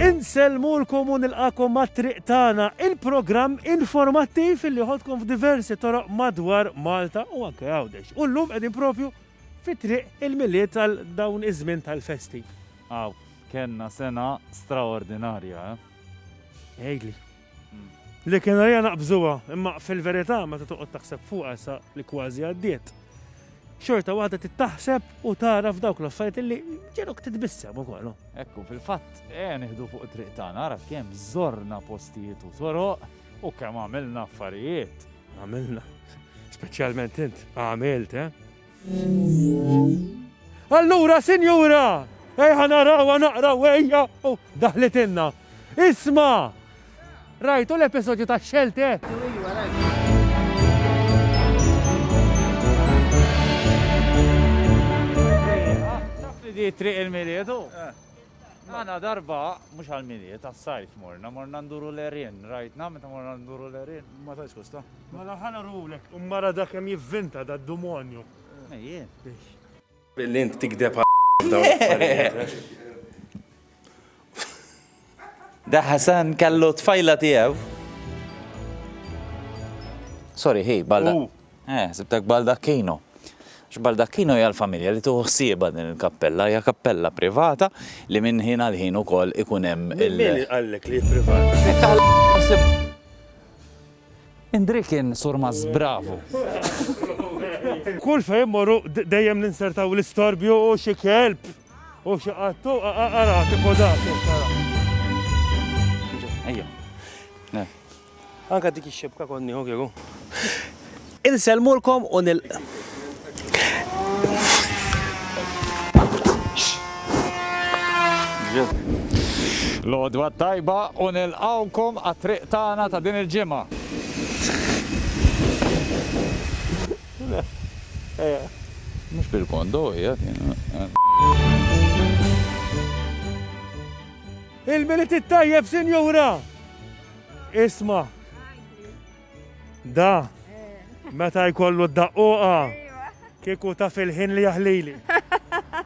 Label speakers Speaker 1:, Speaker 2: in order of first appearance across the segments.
Speaker 1: Insellmulkom u nilqagħkom mat-Triq Tagħna, il-programm informattiv illi jħoddkom f'diversi toroq madwar Malta u anke Għawdex. U llum qegħdin propju fi Triq il-Milied għal dawn iż-żmien tal-festi. Aw, kellna sena straordinarja, eh? Għidli. Li kien għalija naqbżuha, imma fil-verità meta toqgħod taħseb fuqha sa li kważi għaddiet, xorta waħda tittaħseb u tara f'dawk l-affarijiet li ġenok titbissem ukoll. Ekku, fil-fatt, eh nieħdu fuq it-triq tagħna, ara kemm żorna postijiet u toroq u kemm għamilna affarijiet. Għamilna, speċjalment int, għamilt, eh? Allura, sinjura, ejja narawha naqraw ejja! U daħlitilna. Isma'! Rajtu l-episodju ta' Xelteh? Iva, iva, rajtu. Taf li di t-triq il-Milied, hu? Għana darba, mux għal-miliet, għal-sajf morna, morna nduru l-erin, rajtna, meta morna nduru l-erin. Ma ta' skosta. Ma mela ħana rulek. Mara da kem jivvinta da d-dumonju. Ejjien. Billi int tikdeb Da Hasan kallu tfajla tijaw. Sorry, hi, balla. Eh, ħsibtek Baldacchino. Għax Baldacchino hija l-familja li tieħu ħsiebha din il-kappella, hija kappella privata li minn ħin għal ħin ukoll ikun hemm il- Min qallek li hi privata? Indrikin, Surmaz, bravu! Kull fejn mmorru dejjem ninsertaw l-istorbju u xi kelb u xi qattu ara kif hu dak. Ejja. Anka dik ix-xibka kont nieħu kieku. Insellmulkom u nil. Lodwa tajba u nilqawkom għat-triq tagħna ta' din il-ġimgħa. Mhux bil-kondo hija Il-Milied it-tajjeb, Sinjura! Isma. Da. Meta jkollu d-daqquqa. Kieku ta' fil-ħin li jaħlili.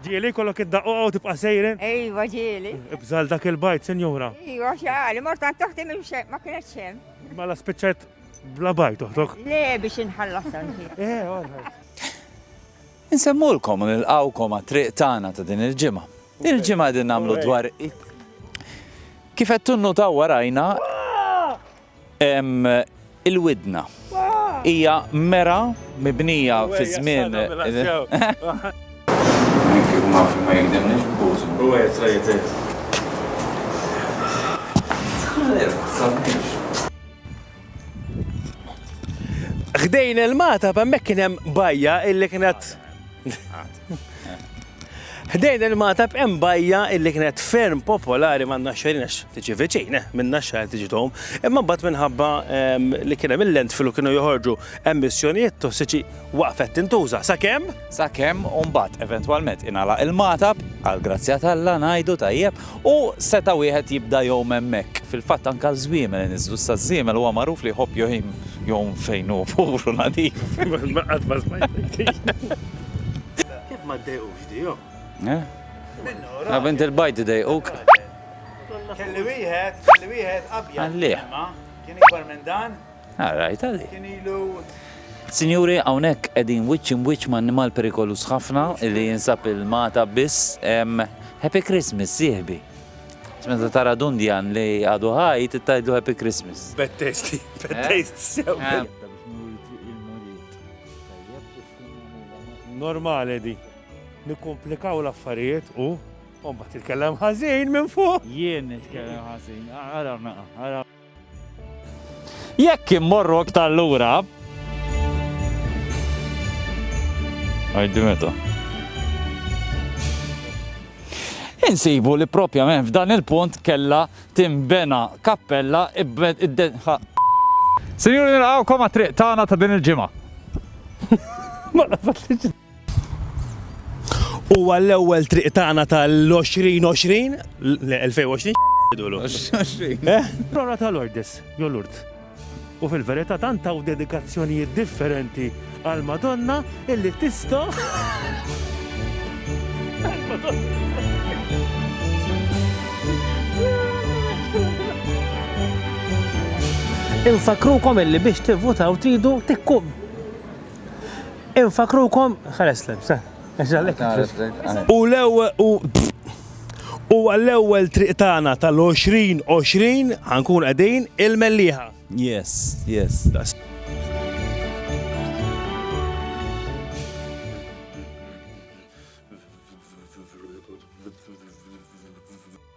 Speaker 1: Ġieli kollok id-daqquqa u tibqa' sejrin? Ejwa ġieli. Ibżal dak il-bajt, sinjura. Ejwa xali, mortan toħti minn ma kienet xem. Mela spiċċajt bla bajt toħtok. Le biex inħallas Eh, għalħal. Insemmulkom u nilqawkom għat-triq tagħna ta' din il-ġimgħa. Il-ġimgħa qegħdin nagħmlu dwar Kif qed tunnutaw warajna il-widna. Hija mera mibnija fi żmien. Ħdejn il-Magħtab hemmhekk kien hemm bajja illi kienet Ħdejn il-Magħtab hemm bajja illi kienet ferm popolari ma' naxxerin għax tiġi viċin, eh, minn naxxar tiġi tom, imma mbagħad minħabba ehm, li kien hemm il-landfill u kienu joħorġu emissjonijiet tossiċi waqfet tintuża sakemm. Sakemm u mbagħad eventwalment ingħalaq il-magħtab, għall-grazzja t'Alla ngħidu, tajjeb, u seta' wieħed jibda jgħum hemmhekk. Fil-fatt anke għaż-żwiemel inniżżlu, issa ż-żiemel huwa magħruf li jħobb jgħim jgħum fejn hu pur u nadif. Qatt ma smajtek din. Kif ma ddejqux di jo? Eh? Minnu. Bint il-bajd idejquk. Kelli wieħed, kelli wieħed abjad. Għallieh. Kien ikbar minn dan. Ah, rajta di. Kien ilu. Sinjuri, hawnhekk qegħdin wiċċ imwiċċ ma' annimal perikoluż ħafna li jinsab il-Malta biss. Happy Christmas, sieħbi. Meta tara dundjan li għadu ħaj, tittajdlu Happy Christmas. Bad taste, bad taste sew. Normali di. Nikkomplikaw l-affarijiet u. Umbat titkellem ħażin minn fuq. Jien nitkellem ħażin. Ara, ara. Jekk immorru iktar lura. Għajdi meta. Insibu li propjament f'dan il-punt kella timbena kappella Sinjuri nilqawkom għat-triq tagħna ta' din il-ġimgħa. U għall-ewwel triq tagħna tal-2020, l-2020 jidulu. Eh? Prora tal-Ordis, jolurt. U fil-verità tant taw dedikazzjonijiet differenti għal Madonna illi tista' Infakrukom illi biex tivvutaw tridu tikkum Infakkrukom, ħares lebs, eh? U l-ewwel u u għall-ewwel triq tagħna tal-2020 ħankun qegħdin il-Mellieħa. Yes, yes.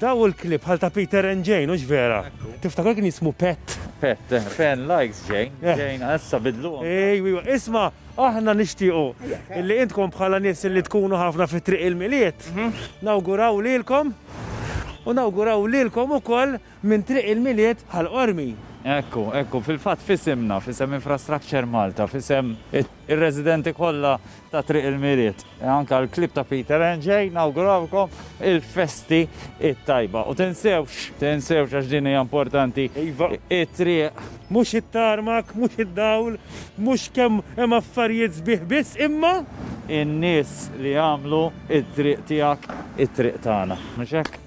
Speaker 1: Daw il-klib bħal ta' Peter and Jane, ux vera? Tiftakar kien jismu Pet? Pet, eh, fan likes Jane, eh. Jane, għassa bidlu. Ej, isma, aħna nishtiqu illi intkom bħala nies illi tkunu ħafna fit triq il-miliet, mhm. nawguraw lilkom u nawguraw lilkom ukoll minn triq il-miliet bħal qormi. Ekku, ekku, fil-fat fisimna, fisem Infrastructure Malta, fisem Ir-residenti kollha ta' Triq il-Miriet, anke l-Klieb ta' Peter and Jane nawgurawlkom il-festi t-tajba. U tinsewx, tinsewx għax din hija importanti, it-triq. Mhux it-tarmak, mhux id-dawl, mhux kemm hemm affarijiet sbieħ biss, imma. In-nies li jagħmlu t-triq tiegħek it-triq tagħna. Mhux hekk?